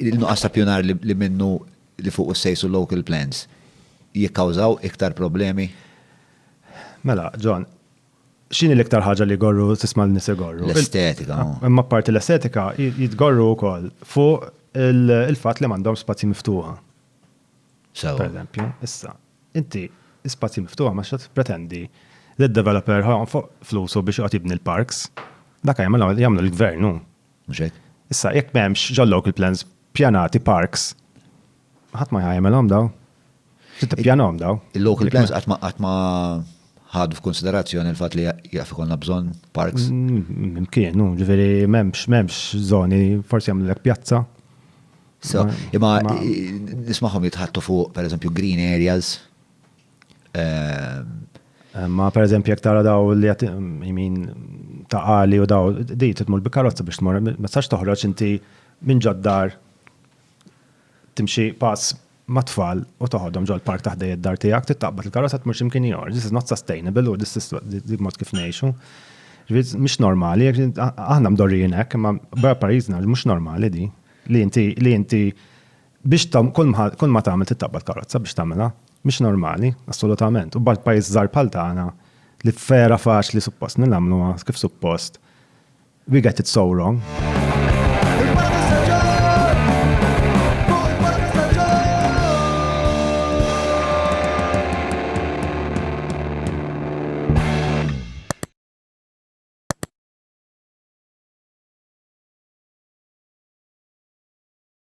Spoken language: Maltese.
il-nuqqas ta' ppjunar li minnu li fuqu ssejsu local plans jikkawżaw iktar problemi? Mela, John, x'inhi l-iktar ħaġa li jgorru tisma' lin-nies igorru? L-estetika. Imma apparti l-estetika, jitgorru wkoll fuq il-fatt li m'għandhomx spazji miftuħa. Sewa. Pereżempju, issa, inti spazji miftuħa ma x'qed tippretendi li d-developer ħa jonfoq flusu biex joqgħod jibni l-parks. Dak jagħmlu l-gvern hu. Mhux hekk? Issa, jekk m'hemmx ġol-local plans pjanati parks, ħadd ma jagħmelhom dawn. Trid tippjanahom dawn. Il-local plans qatt ma qatt ma ħadu f'kunsiderazzjoni l-fatt li jaf ikollna bżonn parks. Mkien, hu, ġifieri m'hemmx m'hemmx żoni, forsi jagħmlulek pjazza. So, imma nismagħhom jitħattu fuq, pereżempju, green areas. Ma per eżempju jek tara daw li għat jimin ta' għali u daw, di titmur bi karozza biex tmur, ma tistax toħroġ inti minn ġoddar timxi pass ma' tfal u toħodhom ġol park taħt id-dar tiegħek, tittaqbad il-karozza tmur x'imkien ieħor. This is not sustainable u this is mod kif ngħixu. Mhux normali, aħna mdorrijin hekk, imma barra pajjiżna mhux normali di. Li inti li inti Biex tagħmel, kull ma, kull ma tagħmel trid taqbad karozza biex tagħmilha. Mhix normali, assolutament. U bad pajjiż żgħar bħal tagħna, li vera faċli suppost li nagħmluha kif suppost, we get it so wrong.